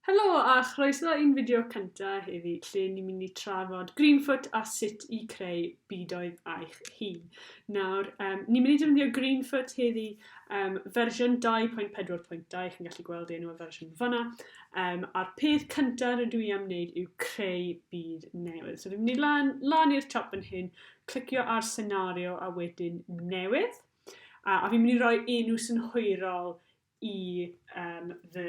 Helo a chroeso i'n fideo cynta heddi lle ni'n mynd i trafod Greenfoot a sut i creu budoedd eich hun. Nawr, um, ni'n mynd i defnyddio Greenfoot heddi um, fersiwn 2.4.2, chi'n gallu gweld enw y fersiwn fyna, um, a'r peth cyntaf rydw i am wneud yw creu byd newydd. So fi'n mynd i lan, lan i'r top yn hyn, clicio ar senario a wedyn newydd, a, a fi'n mynd i roi enw synhwyrol i um, fy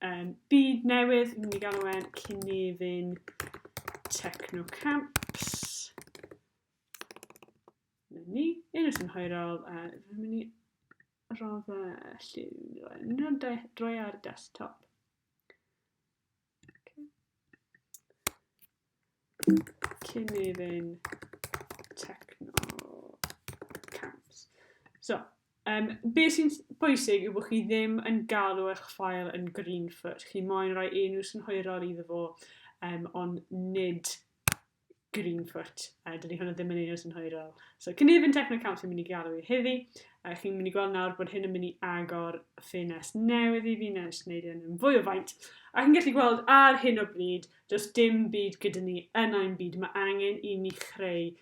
um, byd newydd, mynd i gael e'n Cynefin Techno Camps. Mae'n ni, un o'r synhwyrol, a rwy'n mynd i roedd y llun, rwy'n droi ar desktop. Cynefin Techno Camps. So, um, be sy'n bwysig yw bod chi ddim yn galw eich ffael yn green foot. Chi moyn rhoi enw synhwyrol iddo fo, um, ond nid Greenfoot, a dydy hwnna ddim yn un o'r synhwyrol. So, cynefin Technocamp sy'n mynd i gael ei heddi, a chi'n mynd i gweld nawr bod hyn yn mynd i agor ffenest newydd i fi, nes wneud hyn yn fwy o faint. A chi'n gallu gweld ar hyn o bryd, does dim byd gyda ni yn ein byd, mae angen i ni chreu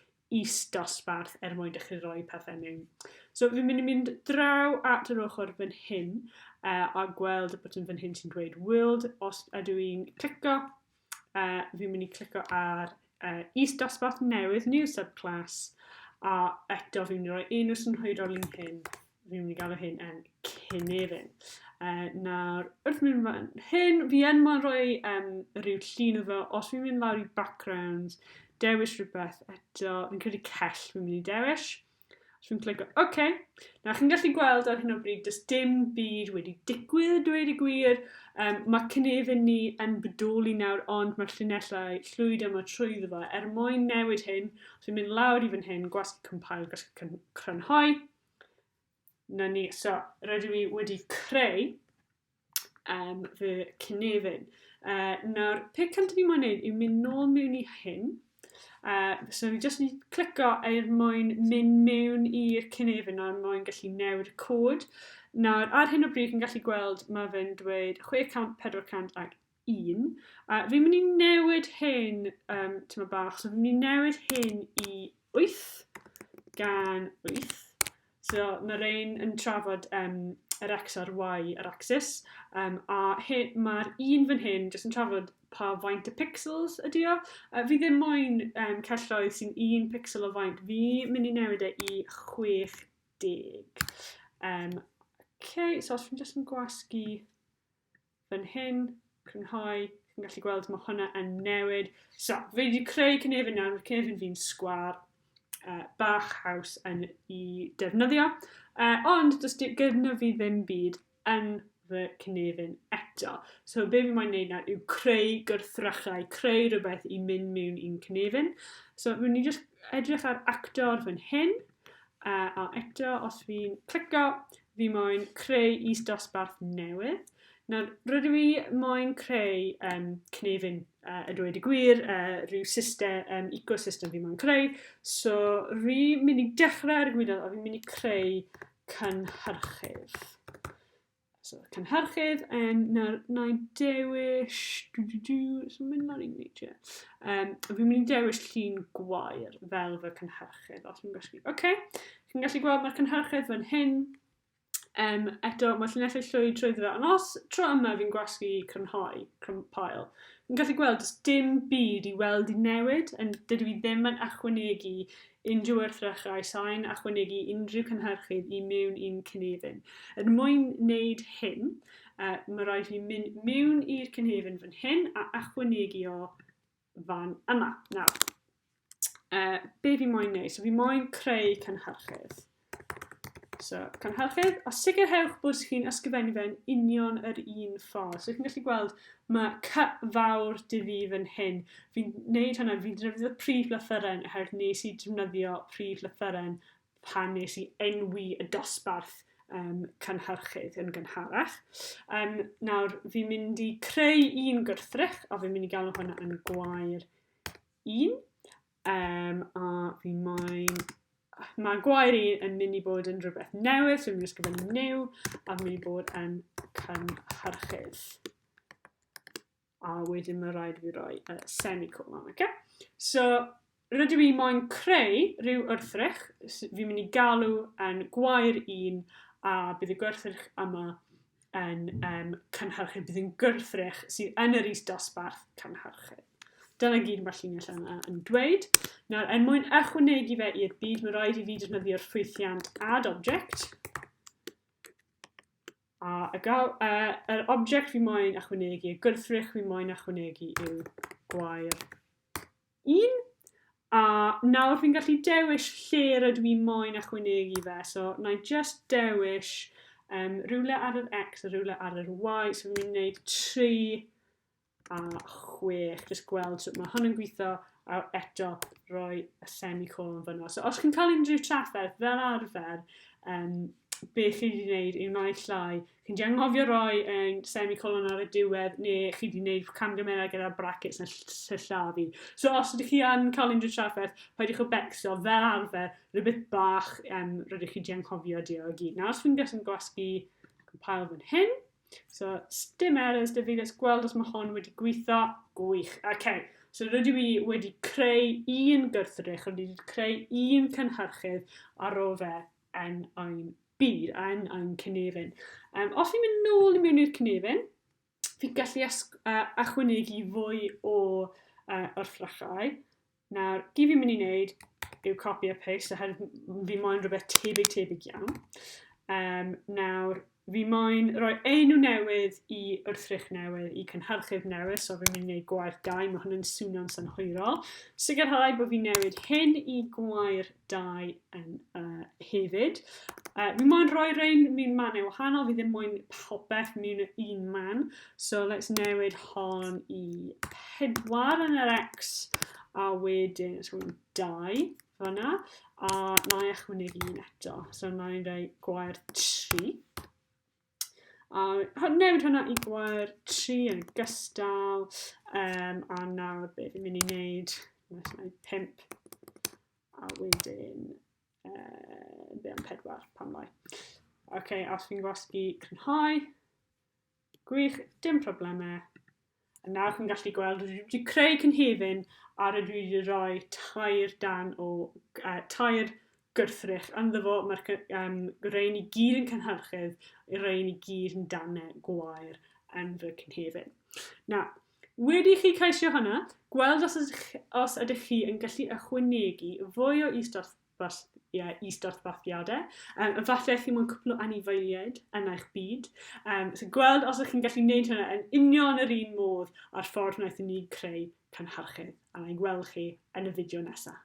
is dosbarth er mwyn dechrau rhoi pethau mewn. So fi'n mynd i mynd draw at yr ochr fan hyn uh, a gweld y botyn fan hyn sy'n dweud World, os ydw i'n clicio, uh, fi'n mynd i clicio ar uh, East Dosbarth Newydd New Subclass, a eto fi'n mynd i roi un o synhwyrol i'n hyn, fi'n mynd i gael o hyn yn Cynefin. Uh, nawr, wrth mynd fan hyn, fi yn mwyn rhoi um, rhyw llun o fe, os fi'n mynd lawr i backgrounds, dewis rhywbeth eto, fi'n credu cell fi'n mynd i dewis. Dwi'n clico, oce. Okay. Na, chi'n gallu gweld ar hyn o bryd, does dim byd wedi digwydd y dweud y gwir. Um, mae cynefin ni yn bodoli nawr, ond mae'r llinellau llwyd yma trwy ddefo. fo. Er mwyn newid hyn, os yw'n mynd lawr i fan hyn, gwasg compile, gwasg crynhoi. Na ni, so, rydw i wedi creu um, fy cynefin. Uh, nawr, pe cynt fi moyn neud yw mynd nôl mewn i hyn. Uh, so fi jyst yn clico er mwyn mynd mewn i'r cynefin nawr mwyn gallu newid y cod. Nawr, ar hyn o bryd yn gallu gweld mae fe'n dweud 600, 400 ac un. A fi'n mynd i newid hyn, um, ti'n mynd bach, so fi'n mynd i newid hyn i 8 gan 8. So mae'r ein yn trafod um, yr x a'r y yr axis, um, a mae'r un fan hyn jyst yn trafod pa faint y pixels ydy o. Uh, fi ddim moyn um, celloedd sy'n un pixel o faint, fi mynd i newid e i 60. Um, okay, so os fi'n jyst yn gwasgu fan hyn, crynhoi, chi'n gallu gweld mae hwnna yn newid. So, fi wedi creu cynefin nawr, mae'r cynefin fi'n sgwar, uh, bach haws yn i defnyddio, uh, ond does gyda fi ddim byd yn fy cynefin eto. So be fi moyn neud nawr yw creu gwrthrychau, creu rhywbeth i mynd mewn i'n cynefin. So fi'n ni just edrych ar actor fan hyn, uh, a eto os fi'n clicio, fi moyn creu is-dosbarth newydd. Nawr, rydw i moyn creu um, cnefin, uh, a dweud y gwir, uh, rhyw system, um, ecosystem fi moyn creu. So, rhi mynd i dechrau ar y gwyddoedd, a fi'n mynd i creu cynhyrchydd. So, cynhyrchydd, um, nawr, na i dewis, dwi dwi dwi, so mynd lan i'n neud e. Um, fi'n mynd i dewis llun gwair fel fy cynhyrchydd, os fi'n gwestiwn. Oce, okay. Chi'n gallu gweld mae'r cynhyrchydd fan hyn. Um, eto, mae llinellau llwyd trwy dda. Ond os tro yma fi'n gwasgu crynhoi, crynpael, fi'n gallu gweld does dim byd i weld i newid, yn dydw i ddim yn achwanegu unrhyw wrthrychau sain achwanegu unrhyw cynhyrchydd i mewn i'n cynefin. Er mwyn wneud hyn, uh, mae rhaid i mynd mewn i'r cynefin fan hyn a achwanegu o fan yma. Nawr, uh, be fi moyn neud? So fi moyn creu cynhyrchydd. So, cynhyrchydd, a sicrhewch bod chi'n ysgrifennu fe'n union yr un ffordd. So, chi'n gallu gweld, mae cy fawr dy fi fan hyn. Fi'n neud hwnna, fi'n defnyddio prif lythyren, oherwydd nes i defnyddio prif lythyren pan wnes i enwi y dosbarth um, cynhyrchydd yn gynharach. Um, nawr, fi'n mynd i creu un gwrthrych, a fi'n mynd i gael hwnna yn gwair un. Um, a fi moyn... Mae gwair un yn mynd i bod yn rhywbeth newydd, so fi'n mynd i ysgrifennu new, a fi'n mynd i bod yn cynhyrchydd. a wedyn mae rhaid fi roi y uh, semicolon, oce? Okay? So, rydw i moyn creu rhyw wrthrych, fi'n mynd i galw yn gwair un, a bydd y gwrthrych yma yn um, cynhyrchu, bydd yn gwrthrych sydd yn yr is dosbarth cynhyrchu. Dyna gyd mae'r llinell yna yn dweud. Nawr, er mwyn ychwanegu fe i'r byd, mae rhaid i fi defnyddio'r ffwythiant add object, A y gael, uh, yr object fi moyn achwanegu, y gwrthrych fi moyn achwanegu yw gwair 1. A nawr fi'n gallu dewis lle rydw i moyn achwanegu fe. So, na i just dewis um, rhywle ar yr X a rhywle ar yr Y. So, fi'n mynd i wneud tri a chwech, jyst gweld sut mae hwn yn gweithio, a eto roi y semicolon fyna. So os chi'n cael unrhyw trafferth fel arfer, um, beth chi wedi gwneud yw naill llai. Chi'n di anghofio roi yn semicolon ar y diwedd, neu chi wedi gwneud camgymeriad gyda'r brackets yn sillafu. So os ydych chi yn cael unrhyw trafferth, paidwch o becso fel arfer, rhywbeth bach um, rydych chi wedi anghofio di o gyd. Nawr os fi'n gysyn gwasgu compile fan hyn, So, stim errors da fi, let's gweld os mae hon wedi gweithio. Gwych, oce. Okay. So rydw i wedi creu un gwrthrych, rydw i wedi creu un cynhyrchydd ar ôl fe yn ein byd, yn ein cynefin. Um, os ni'n mynd nôl i mewn i'r cynefin, fi'n gallu uh, achwynegu fwy o uh, wrthrychau. Nawr, i fi'n mynd i wneud yw copy a paste oherwydd fi moyn rhywbeth tebyg tebyg iawn. Um, nawr, fi moyn rhoi enw newydd i wrthrych newydd, i cynhyrchydd newydd, so fi'n mynd i wneud gwair dau, mae hwn yn swnio'n synhwyrol. Sicrhau bod fi'n newid hyn i gwair dau yn uh, hefyd. Uh, mi'n moyn rhoi rhain mi'n mannau wahanol, fi ddim moyn popeth mi'n un man. So let's newid hon i pedwar yn yr X, a wedyn let's go dau fanna, a na i achwynegu un eto. So na i'n rhoi gwair tri. A newid hwnna i gwair 3 yn gystal. Um, a nawr be fi'n mynd i wneud, gwneud 5. A wedyn, uh, be am 4 pan lai. OK, os fi'n gwasgu crynhoi, gwych, dim problemau. A nawr chi'n gallu gweld, dwi wedi creu cynhefin a rydw i wedi rhoi tair dan o uh, tair gwrthrych ynddo fo. Mae'r um, rein i gyd yn cynhyrchydd, y rein i gyd yn danau gwair yn fy cynhefin. Na, wedi chi ceisio hwnna, gweld os ydych, os ydych chi yn gallu ychwanegu fwy o istorth Fast, ie, is-dosbarthiadau. Um, efallai chi mo'n cwpl o anifeiliaid yn eich byd. Um, so gweld os ydych chi'n gallu gwneud hynna yn union yr un modd a'r ffordd wnaethon ni creu cynhyrchydd. A na'i gweld chi yn y fideo nesaf.